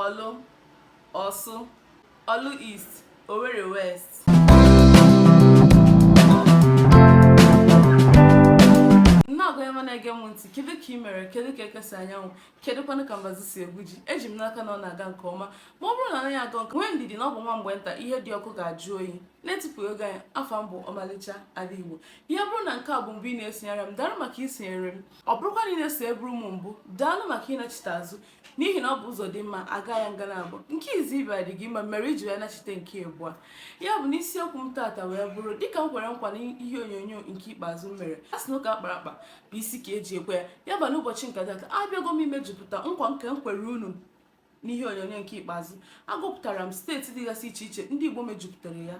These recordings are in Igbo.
ọlụ ọsụ oru east owerri west nnọọgụ ebe na-ege m ntị kedu ka ị mere kedu ka eke si anya anwụ kedu kwanụ ka mbazụ si egwu ji eji m n'aka na ọ na-aga nke ọma ma ọ bụrụ na ọ naghị aga nke nwee ndidi na ọ bụ nwa mgbe nta ihe dị ọkụ ga-ajụ oyi n'etufughị oge anyị afa m bụ ọmalịcha ala igbo ya bụrụ na nke a bụ mbụ ị na-esonyere m daalụ maka isonyere m ọ bụrụkwa na ị na-esoburu m mbụ daalụ maka ịnachite azụ n'ihi na ọ bụ ụzọ dị mma a gaa ya nga naabọ nke izizi ị bịa dị gị mma mere i ji wee nachite nke abụọ ya bụ na isiokwu m taata wee bụrụ dịka m kwere nkwa na ihe onyonyo nke ikpeazụ m mere a sị na ụka a kpara akpa bụ isi ka e ji ekwe ya ya bụ n'ụbọchị nke taata abịago m imejupụta nkwa nke m kwere unu n'ihe onyonyo nke ikpeazụ agụpụtara m steeti dịgasị iche iche ndị Igbo mejupụtara ya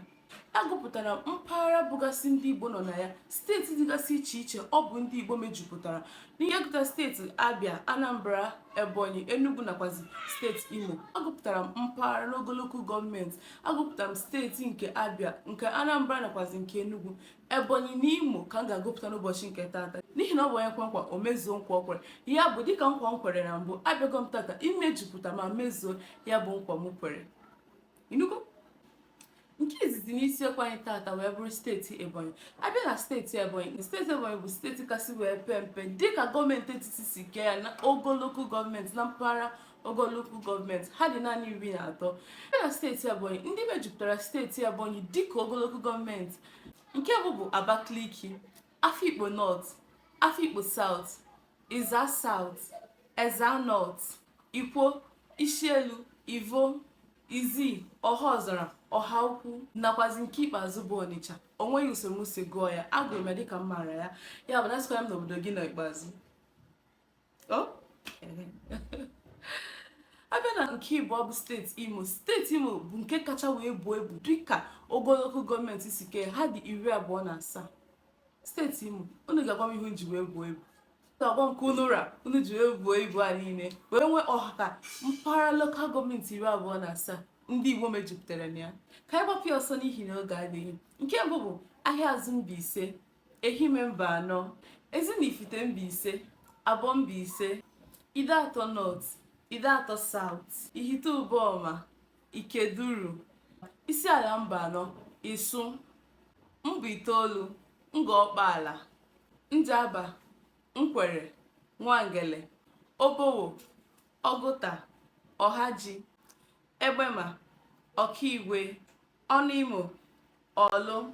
agụpụtara m mpaghara bụgasị ndị Igbo nọ na ya steeti dịgasị iche iche ọ bụ ndị Igbo mejupụtara n'ihe gụta steeti Abia Anambra Ebonyi Enugu nakwazi steeti Imo agụpụtara m mpaghara n'ogo lokal gọọmenti agụpụtara m steeti nke Abia nke Anambra nakwazi nke Enugu Ebonyi na Imo ka m ga-agụpụta n'ụbọchị nke taata n'ihi na ọ bụ onye kwe nkwa o mezuo nkwa o kwere ya bụ dịka nkwa m kwere na mbụ abịago m tata imejupụta ma mezuo ya bụ nkwa m kwere ị nụgo nke izizi n'isiokwu anyị tata wee bụrụ steeti ebonyi a bịa na steeti ebonyi steeti ebonyi bụ steeti kasị wee pee mpe dịka gọọmenti etiti si kee ya na ogo lokal gọọmenti na mpaghara ogo lokal gọọmenti ha dị naanị iri na atọ a bịa na steeti ebonyi ndị mejupụtara steeti ebonyi dịka ogo lokal gọọmenti nke bụ bụ abakaliki Afikpo North, Afikpo South, Ezza South, Ezza North, Ikwo, Ishielu, Ivo, Izzi, Ọhaọzara, Ọhaukwu nakwazi nke ikpeazụ bụ Ọnịcha. O nweghị usoro m si gụọ ya, agụrụ m ya dịka m maara ya. Ya bụ na asịkwala m na obodo gị nọ ikpeazụ. a bịa na nke ịbụọ bụ steeti imo steeti imo bụ nke kacha wee buo ibu dịka ogo lokal gọọmenti si kee ha dị iri abụọ na asaa steeti imo unu ga-agwa m ihe ji wee buo ibu ga-agwa m ka unu ra unu ji wee buo ibu a niile wee nwee ọha ka mpaghara lokal gọọmenti iri abụọ na asaa ndị igbo mejupụtara na ya ka anyị gbapụ ya ọsọ n'ihi na oge adịghị nke mbụ bụ ahịazụ mbaise Ehime Mbanọ, Ezinifite Mbaise, Abọ Mbaise, Ideatọ Nọt, Ideatọ Saụt, Ihite Ụbọma, Ikeduru, Isiala Mbanọ, Isu, Mbaitoolu, Ngọ Ọkpaala, Njaba, Nkwere, Nwangele, Obowo, Ọgụta, Ọhaji, Egbema, Ọkaigwe, Onuimo, Orlu,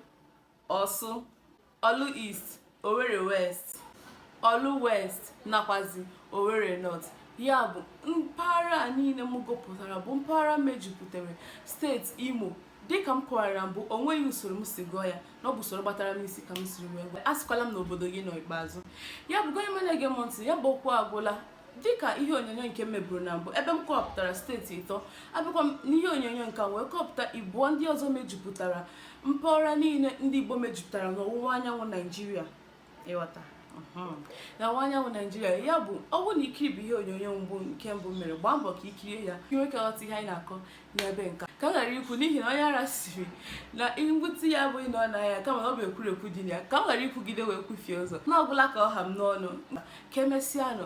Orsu, Oru East, Owerri West, Oru West nakwazi Owerri North. Ya bụ mpaghara a niile m gụpụtara bụ mpaghara mejupụtara steeti Imo dịka m kọwara mbụ o nweghị usoro m si gụọ ya na ọ bụ usoro gbatara m isi ka m siri wee gụọ asịkwala m na obodo gị nọ ikpeazụ ya bụ gị onye ọma na-ege m ntị ya bụ okwu agwụla dịka ihe onyonyo nke m meburu na mbụ ebe m kọpụtara steeti ịtọ abịakwa m n'ihe onyonyo nke a wee kọpụta ịbụọ ndị ọzọ mejupụtara mpaghara niile ndị Igbo mejupụtara n'ọwụwa anyanwụ Naijiria ị ghọta mhm. na ọwụwa anyanwụ Naijiria ya bụ ọ bụrụ na i kiribughị ihe onyonyo mbụ nke mbụ m mere gbaa mbọ ka i kirie ya ka ị nwee ike ghọta ihe anyị na-akọ n'ebe nka ka m ghara ikwu n'ihi na onye ara sịrị na ngwọta ya abụghị na ọ na ya kama na ọ bụ ekwurekwu dị na ya ka m ghara ikwugide wee kwufie ụzọ na ọ gwụla ka ọ ha m n'ọnụ ka emesịanụ